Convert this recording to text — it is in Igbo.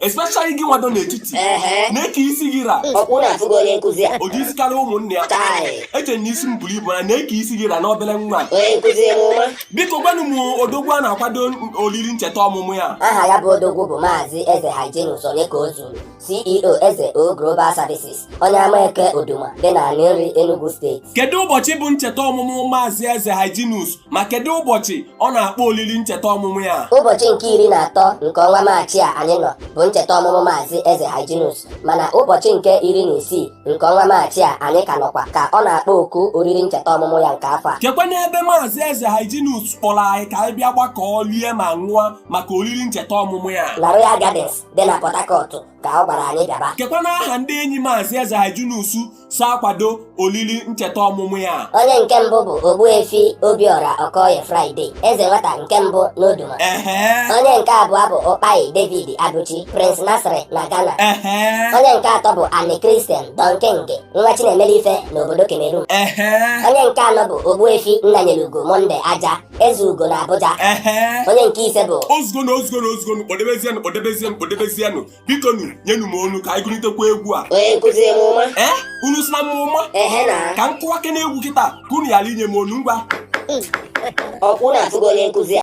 especially gị nwado n'etiti Ehe. nee ka isi gị ra Ọ kwa unu afụgo onye nkụzi a. ụdị isi karịa ụmụnne ya Chai. eche na isi m buru ibu na nee ka isi gị ra n'obere nwa Onye nkụzi m ọma. biko gwanụ m odogwu a na-akwado oriri ncheta ọmụmụ ya Aha ya bụ odogwu bụ Maazị Eze Hyginus Onyekaozuru, CEO Eze O Global Services. onye Amaeke Oduma dị n'Aninri Enugu steeti kedu ụbọchị bụ ncheta ọmụmụ maazị eze Hyginus ma kedu ụbọchị ọ na-akpọ olili ncheta ọmụmụ ya ụbọchị nke iri na atọ nke ọnwa maachị a anyị nọ bụ ncheta ọmụmụ maazị eze Hyginus mana ụbọchị nke iri na isii nke ọnwa maachị a anyị ka nọkwa ka ọ na-akpọ oku oriri ncheta ọmụmụ ya nke afọ a kekwanụ ebe maazị eze Hyginus kpọrọ anyị ka anyị bịa gbakọọ lie ma ṅụọ maka oriri ncheta ọmụmụ ya na Royal Gardens dị na Port Harcourt ka ọ gwara anyị bịaba kekwanụ aha ndị enyi maazị eze Hyginus so akwado olili ncheta ọmụmụ ya onye nke mbụ bụ ogbuefi obiọra okoye friday eze nwata nke mbụ n'oduma ehe onye nke abụọ bụ ụkpai david abuchi prince nazareth na ghana ehe onye nke atọ bụ ani christian don king nwa chi na-emelu ife n'obodo cameroon ehe onye nke anọ bụ ogbuefi nnanyelugo monday aja eze ugo na abuja onye nke ise bụ ozugonu ozugonu ozugonu kpọdebezienụ kpọdebezienụ kpọdebezienụ bikonụ nyenụ m ọnụ ka anyị gụlitekwa egwu a onye nkụzi m ọma ee unu si na m ụma ehe na ka m kụwa ke na egwu kịta ka unu ghara inye m ọnụ ngwa ọ kwa unu afụgo onye nkụzi a